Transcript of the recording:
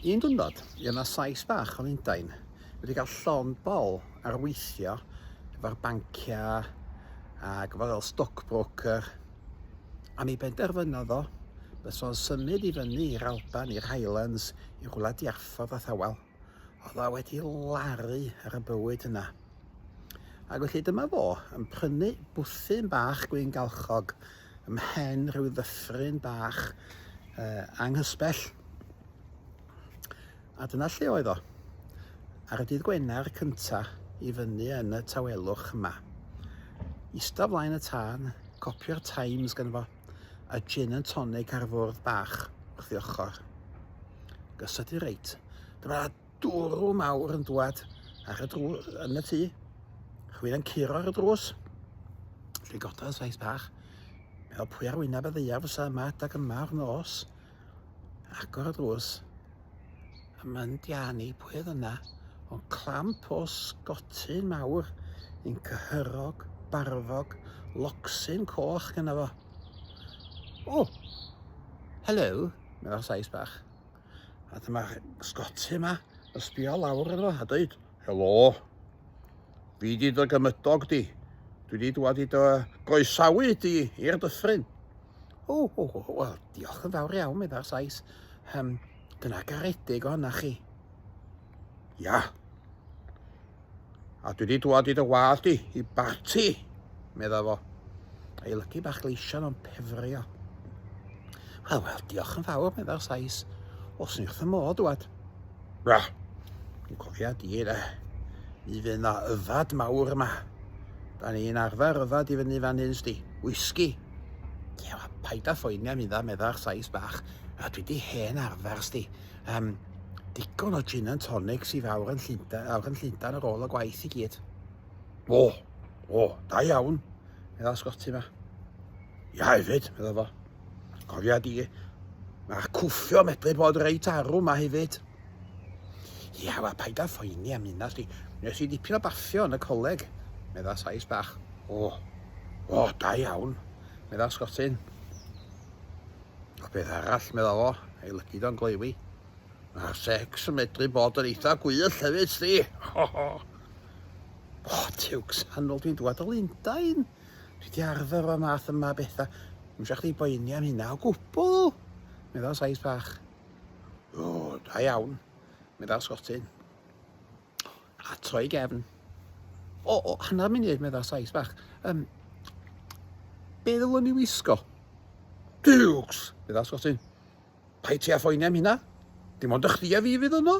Un dwrnod, i yna sais bach o Lundain wedi cael llon bol ar weithio efo'r banciau ac efo fel stockbroker a mi benderfynodd o bys o'n symud i fyny i'r Alban, i'r Highlands, i rhywle diarffordd a thawel. oedd a wedi laru ar y bywyd yna. Ac felly dyma fo yn prynu bwthyn bach gwyn galchog ymhen rhyw ddyffryn bach uh, anghysbell. A dyna lle oedd o. Ar y dydd Gwener cynta i fyny yn y tawelwch yma. Ista flaen y tân, copio'r Times gan fo. a gin and tonic ar fwrdd bach wrth ei ochr. Gysod i reit. Dyma dwrw mawr yn dwad ar y drw yn y tŷ. Chwyn yn curo ar y drws. Dwi'n gododd saith bach. Meddwl pwy ar wyneb y ddeiaf fysa yma adag yma o'r nos. agor y drws a mae'n diani pwy oedd yna ond clamp o sgotyn mawr yn cyhyrog, barfog, locsyn coch gyda fo. O! Hello! Mae'n fawr saes bach. A dyma'r sgotyn yma, yn sbio lawr yno a dweud, Helo! Fi di dy gymydog di. Dwi di dwad i dy goesawu di i'r dyffryn. O, o, o, o, diolch yn fawr iawn, meddai'r Sais. Um, dyna garedig o hynna chi. Ia. A dwi wedi dwad i dy wad di, i barti, meddai fo. Ei lygu bach gleision o'n pefrio. Wel, wel, diolch yn fawr, meddai'r Sais. Os ni wrth y modd, dwad. Bra, dwi'n cofio di, da. Mi fydd yna yfad mawr yma. Da ni'n arfer yfad i fyny fan hyn, sdi. Whisky. Ie, paid â phoeni am idda, meddai'r Sais bach. A dwi di hen arfer, sti. Um, digon o gin and tonics i fawr yn Llundain, awr yn Llundain ar ôl y gwaith i gyd. O, o, da iawn, meddai Scotty ma. Ia hefyd, meddai fo. Cofia di, mae'r cwffio medru bod reit arw ma hefyd. Ia, wel, paid â phoeni am hynna, sti. Nes i dipyn o baffio yn y coleg, medda Sais bach. O, o, da iawn, medda Sgotyn. O beth arall, medda fo, ei lygu do'n gleiwi. Mae'r sex yn medru bod yn eitha gwyll hefyd, sti. O, o. O, tiwcs, hanol dwi'n dwad o Lundain. Dwi di arfer o'r math yma bethau. Mwysach chdi boeni am hynna o gwbl, medda Sais bach. O, da iawn, meddai Sgotyn. A troi gefn. O, o, hanner munud, meddai Sais bach. Um, be ddylwn ni wisgo? Dukes, meddai Sgotyn. Pai ti a phoeni am hynna. Dim ond y chdi a fi fydd yno.